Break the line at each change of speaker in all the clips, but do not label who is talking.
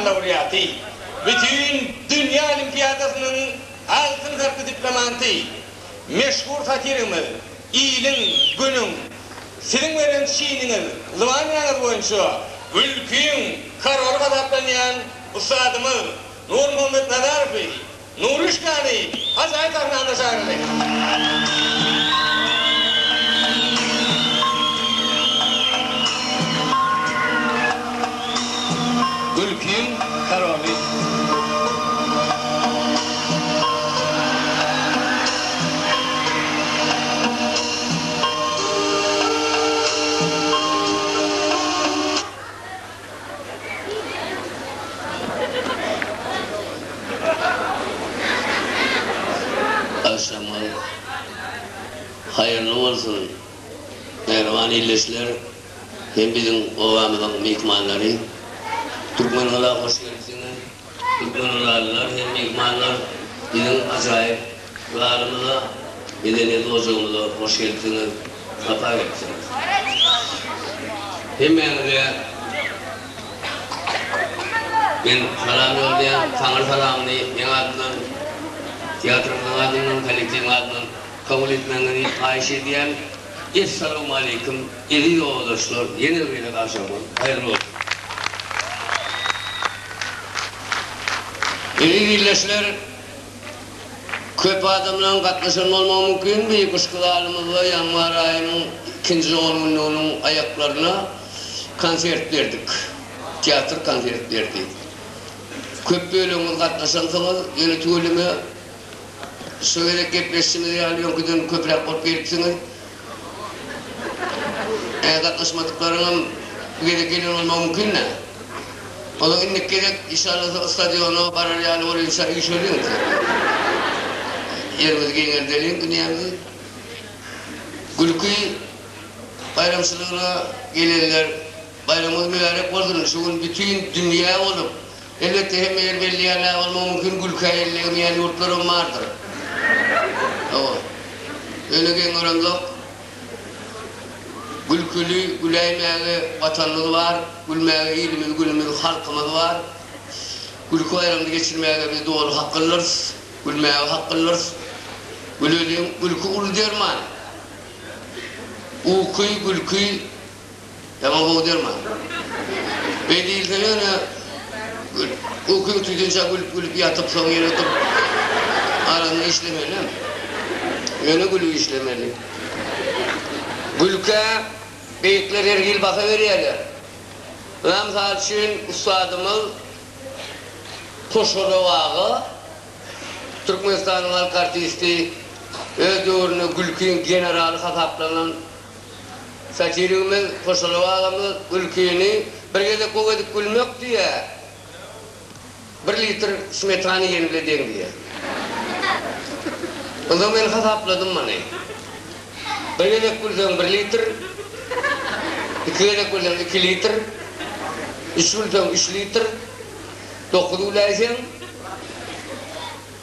laureaty, Bütin dünýä olimpiadasynyň altyn harply diplomanty, meşhur satirigimiz Iliň, Günüň, siziň beren çiniňiz, zybanýaňyz boýunça mülküň koroly hasaplanýan ussadymyz Nurmuhammet Nazarowy, Nuruşkany ajaýyp sahnamyza çagyrly. Gülkiň koroly.
Agşamyňyz haýyrly bolsun, mähriban ildeşler! Hem biziň obamyzyň myhmanlary. Türkmengala hoş gelipsiňiz. Türkmengalalylar hem myhmanlar biziň ajaýyp ýarymyza, medeniýet ojagymyza hoş gelipsiňiz, sapa gelipsiňiz. Hemmäňize men salam ýolýan, Taňry salamyny meň adymdan, teatrymyzyň adyndan, kollektiwiň adyndan kabul etmegiňizi haýyş edýän. Essalawmaleýkim eziz ýoldaşlar ýene bir gezek agşamyňyz haýyrly bolsun. Eziz ildeşler köp adamlaryň gatnaşan bolmagy mümkin beýik yşkydalymyzla ýanwar aýynyň ikinji on günlüginiň aýaklaryna konsert berdik. Teatr konsert berdi. Köp bölegiňiz gatnaşansyňyz ýöne tüweleme Şu gezek gepleşişimiz ýaly öňküden köpräk bolup gelipsiňiz. Äzaklashmadyklaryňam bu gezek gelen bolmagy mümkin-dä. Onsoň indiki gezek işallasa stadiona barar ýaly bolýunça üýşeliň. Ýerimizi giňeldeliň dünýämizi. Gülki baýramçylygyna gelenler baýramyňyz mübärek bolsun. Şu gün bütin dünýä bolup Elbetde hemme ýer belli ýaly bolmagy mümkin, gülkä elli ürýän ýurtlaram bardyr. Hawa. Öne geň göremzok. Gülküli, güläýmäge Watanymyz bar, gülmäge ilimiz, günümiz, halkymyz bar. Gülki baýramyny geçirmäge biz doly haklydyrys, gülmäge haklydyrys. Güleliň, gülki uly derman. Uky, gülki Ýaňy gowy derman. Beý diýilseň ýöne ukyň tuýdunça gülüp-gülüp ýatyp soň ýene oturyp araňy işlemeli. Ýöne gülüp işlemeli. Gülkä beýikler her hili baha berýärler. Ynha mysal üçin ussadymyz Koşarow aga Türkmenistanyň halk artisti öz döwründe gülkiň generaly hasaplanan Satirigimiz Hoşalyp agamyz Gülkini bir gezek gowy edip gülmek diýýä, bir litr smetana iýen bile deň diýýä. Ynha men hasapladym muny. Bir gezek gülseň bir litr, iki gezek gülseň iki litr, üç gülseň üç litr, dokuz güläýseň,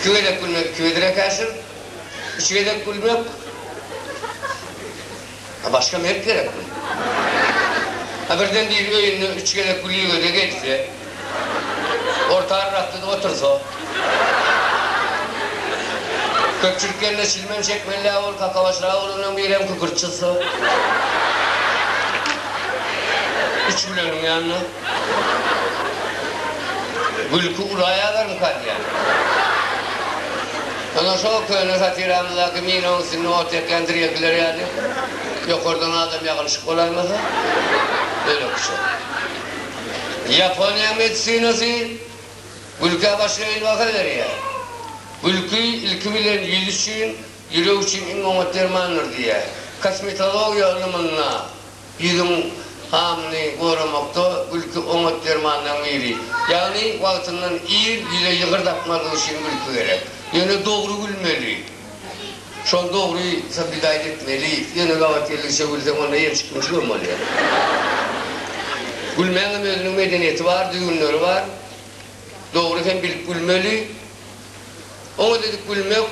Iki gezek gülmek iki gezek äkäşir. Üç gezek gülmek A başga mert gerekmi? A birden biri öýünde üç gezek gülügede gelse, orta arrakda-da otursa? Köpçülik gelende çilmem çekmeli-dä ol, kakabaşragy bolandan birem kükürt çyzsa? Üç güleniň ýanyna. Gülki ulaýalarmyka diýýän. Ondan şo köne satiramyzdaky minaň üstünde ot ýakýan drelkiler ýaly, ýokardan adam ýagylyşyp bolaýmasa, bölekçe. Ýaponiýa medisinasy gülkä başga hili baha berýär. Gülki, ilki bilen, ýüz üçin, ýürek üçin iň oňat dermandyr diýýär. Kosmetologiýa ylymynda. Ýüzüň gamyny goramakda gülki oňat dermanlaryň biri. Ýagny wagtyndan ir ýüze ýygyr dakmazlyk üçin gülki gerek. Ýöne dogry gülmeli. Şol dogry sobidaýt etmeli. Ýöne gabat geldigiçe gülseň onda ýençik münçik hem bolýar. Gülmäň hem özüniň medeniýeti bar, düzgünleri bar. Dogry hem bilip gülmeli. Oňat edip gülmek.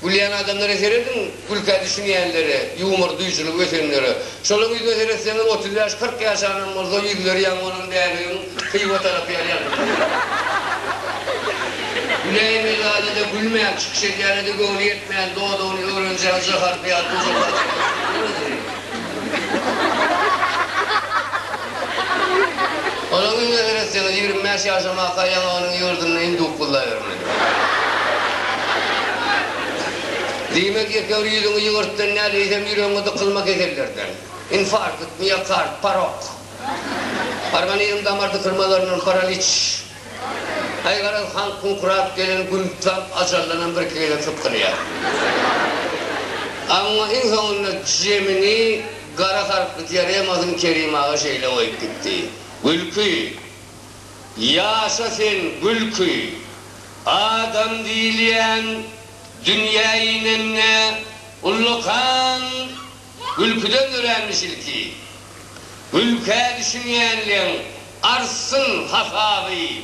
Gülýän adamlara serediň, gülkä düşünýänlere, ýumor duýujylygy ötenlere. Şolaň ýüzüne seretseňiz, otuz bäş, kyrk ýaşanam bolsa, ýüzleri ýaňy bolan bäbegiň Hywa tarap ýaly ýalpyldap ýörler. Güläýen Mirzada-da gülmän, çykyş edýäne-de göwni ýetmän, dodagyny öwrenjäň jaharpy ýaly duzakly adamlar bolupdyr özüni. Onuň ümüne seretseňiz, ýigrimi bäş ýaşamaka ýaňy onuň ýurdunda hem duk gullabermedi. Diýmek, ýekeür ýüzüňi ýygyrtdan däl, eýsem ýüregiňe dykylma kesellerden. Infarkt, miokard, parok. Organizm damar dykylmalaryndan, paraliç. Aý garaz, han kuňkurap gelen gün tutam ajallanam birki gezek sypdyrýar. Amma iň soňunda jemini gara harply diaremasyny Kerim aga şeýle goýup gitdi, Gülki! Ýaşa sen, Gülki! Adam diýilýän dünýä inende ullakan Gülküden öränmiş ilki. Gülkä düşünýänleň artsyn hasaby,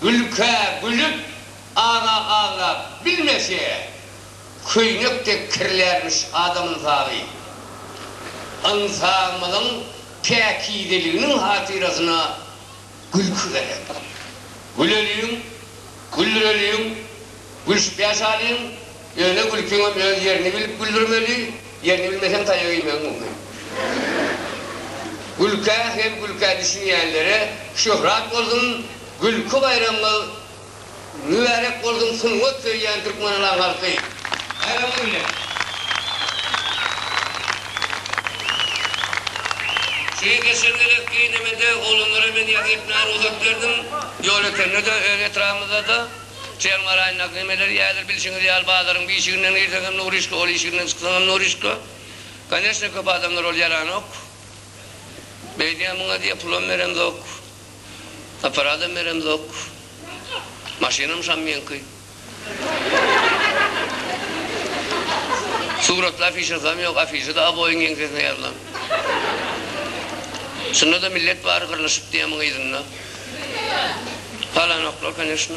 Gülkä gülüp, ara aglap bilmese, Köýnek dek kirlärmiş adam ynsaby. Ynsabymyzyň päkizeliginiň hatyrasyna gülki gerek. Güleliň, güldüreliň, gülşüpä salyň, ýöne gülkiňem öz ýerini bilip güldürmeli, ýerini bilmeseň taýak iýmegiň mümkin. Gülkä hem gülkä düşünýänlere şöhrat bolsun, gülki baýramyňyz Mübärek bolsun sungat söýýän Türkmenalan halky! Baýramyň bilen! Şeýle geçen gezek giňemede oglanlara men ýazgy etmäge rugsat berdim. Ýol ötende-de, öz etrabymyzda-da çen garaýyn nagnemeleri ýaýdyr. Bilşiňiz ýaly, bazaryň bir işiginden girseňem nurişka, ol işiginden çyksaňam nurişka. Koneçne, köp adamlar ol ýaranok. Beýdýän muňa diýýär, pulam beremzok. Aparadam beremzok. Maşynam şam meňki. Suratly afişasam ýok, afişada Aboýyň ýeňsesine ýazylan. Şunda-da millet bary gyrlyşyp diýýär muň yzynda. Palanoklar, koneşno.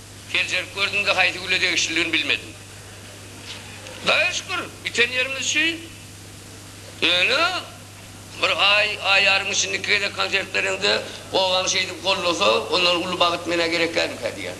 Seljerip gördüm-de, haýsy güle degişlidigini bilmedim. Hudaýa şükür, biten ýerimiz şu. Ýöne, bir aý, aý ýarym içinde iki gezek konsert bereňde, obaň şeýdip gollasa, ondan uly bagt men-ä gerekkämikä diýýän.